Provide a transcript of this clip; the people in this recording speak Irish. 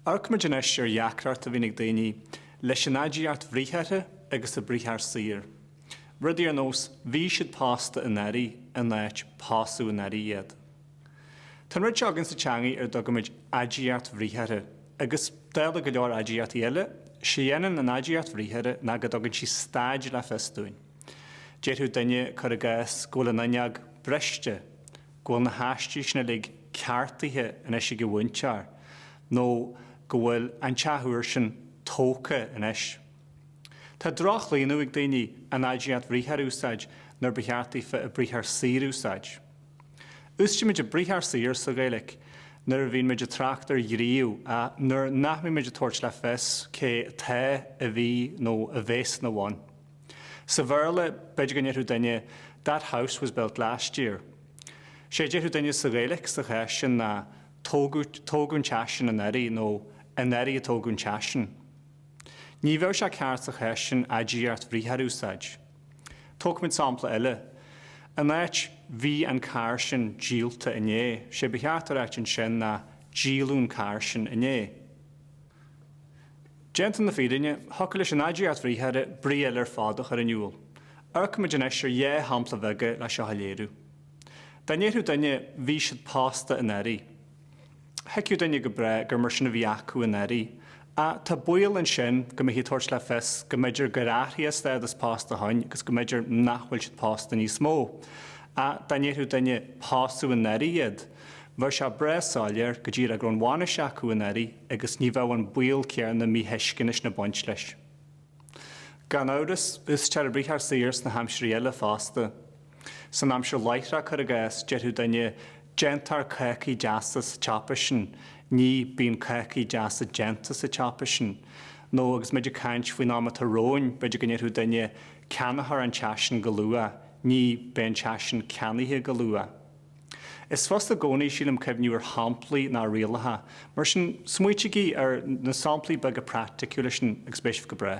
Amharcaimid anois ar dheacracht a bhíonn ag daoine leis an aidiacht bhriathartha agus an briathar saor. Rudaí ar nós bhí siad pósta anuraidh in áit pósadh anuraidh iad. Tá an rud seo againn sa teangaidh ar a dtugaimid aidiacht bhriathartha agus, dála go leor aidiachtaí eile, sé a dhéanann an aidiacht bhriathartha ná go dtugann sí staid le fios dúinn. Déarfadh duine, cuir i gcás, go bhfuil an fhuinneog briste, go bhfuil na haistí sin uilig ceartaithe anois ag an mhúinteoir, nó go bhfuil an teach úr sin tógtha anois. Tá droch-chlaonadh ag daoine an aidiacht bhriathartha a úsáid nuair ba cheart daofa an briathar saor a úsáid. Úsáidimid an briathar saor sa Ghaeilic nuair a bhíonn muid ag trácht ar ghníomh, nuair nach mbíonn muid ag tabhairt le fios cé atá, a bhí nó a bhéas ina bhun. Sa Bhéarla, b'fhéidir go ndéarfadh duine That house was built last year. Sé a déarfadh duine sa Ghaeilic sa chás sin ná Tógadh an teach sin anuraidh nó Anuraidh a tógadh an teach sin. Ní bheadh sé ceart sa chás sin aidiacht bhriathartha a úsáid. Tógfaimid sampla eile. In áit Bhí an carr sin díolta inné, sé ba cheart a ráit ansin ná Díoladh an carr sin inné. Déanta na fírinne, thiocfadh leis an aidiacht bhriathartha brí eile ar fad a chur in iúl. Amharcaimid anois ar dhá shampla bheaga leis seo a léiriú. Dá ndéarfadh duine Bhí siad pósta anuraidh. Thuigfeadh duine go breá gur mar sin a bhí acu anuraidh. Ach tá baol ansin go mbeifí ag tabhairt le fios go mb'fhéidir gur athraigh a stádas pósta ó shin agus go mb'fhéidir nach bhfuil siad pósta níos mó. Ach dá ndéarfadh duine Pósadh anuraidh iad. bheadh sé breá soiléir go díreach go raibh an bhainis acu anuraidh. agus ní bheadh an baol céanna míthuisceana sin ag baint leis. Gan amhras, úsáidtear an briathar saor sna haimsirí eile fosta. San aimsir láithreach, cuir i gcás, déarfadh duine, Déantar cácaí deasa sa tsiopa sin, ní, Bíonn cácaí deasa déanta sa tsiopa sin. Nó, agus muid ag caint faoin am atá romhainn, b'fhéidir go ndéarfadh duine, Ceannófar an teach sin go luath, ní, Beidh an teach sin ceannaithe go luath. Is fusa i gcónaí, sílim, cuimhneamh ar shamplaí ná ar rialacha. Mar sin, smaoitigí ar na samplaí beaga praiticiúla sin agus beidh sibh go breá.